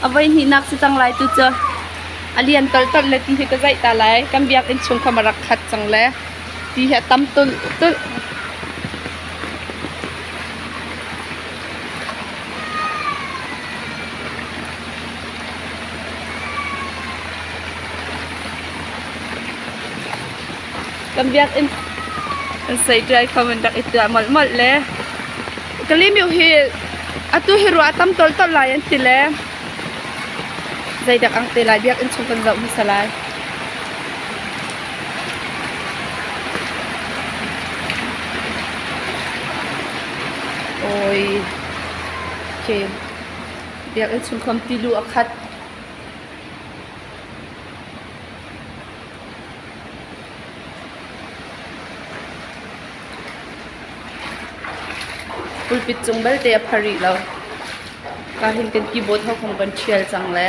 A voihnihnak si cang lai tu cu a lian tolhtolh le ti hi ka zaih ta lai. Kan biakinn chung kam a rak khat cang le ti hi a tam tulh. Kan biakinn kan seiṭai kha an rak i tuah molmol le Kalimeu hi atu hi ruah a tam toltol lai an ti le zeidak ang te lai biakinn chung kan zoh hmasa lai. Oi. Okay. Biakinn chung khan tilu a khat. Pulpit cung belte a pha rih lo. Ka hin kan ti baw thawk hong kan ṭhial cang le.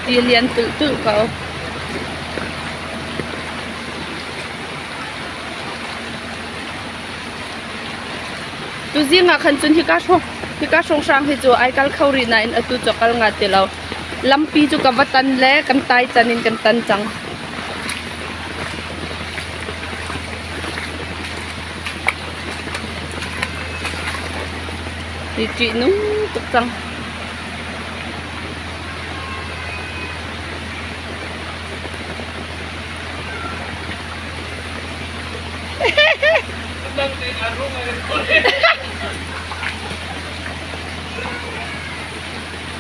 Ti lian tulh tulh ko. Tuzing ah khan cun hika hrawng hika hrawnghrang hi cu ai kal kho rih nain atu cu kal nga ti lo. Lampi cu ka va tan le kan tai can in kan tan cang. Hi ṭih nung tuk cang.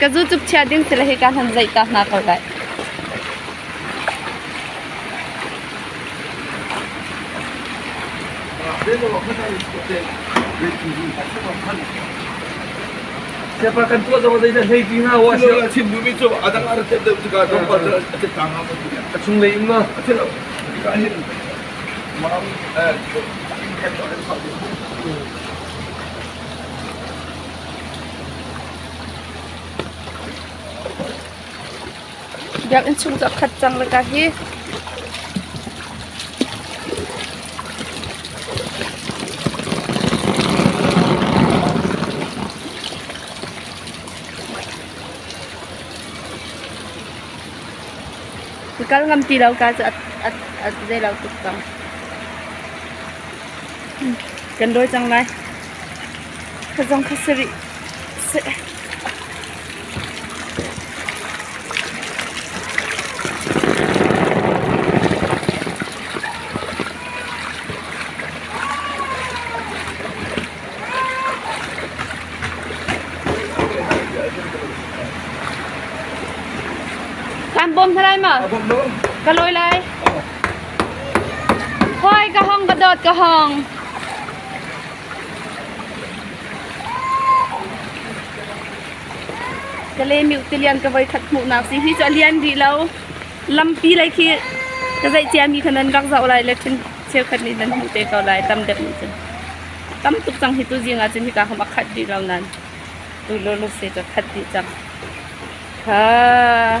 ka zu cup chia ding ti le hika hlan zaih ta hna ko dai A chunglei um na a thenh lo. Biakinn chung cu a khat cang lawkah hi. Ka kal ngam ti lo ka cu a zei lo tuk cang. Kan dawi cang lai. Kha zong kha sarih. Kan bawm hna lai ma? Ka loi lai. Hoi ka hong ka dawt ka hong. Ka lemih tilian ka voi khat hmuhnak ti hi cu a lian rih lo. Lampi lei khi ka zeih ciami kha nan rak zoh lai le thin cheukhat nih nan hmuh te ko lai tam deuh nih cun. Tam tuk cang hi tu zing ah cun hika hom a khat rih lo nan. Tu lulu si ka khat dih cang. Ha.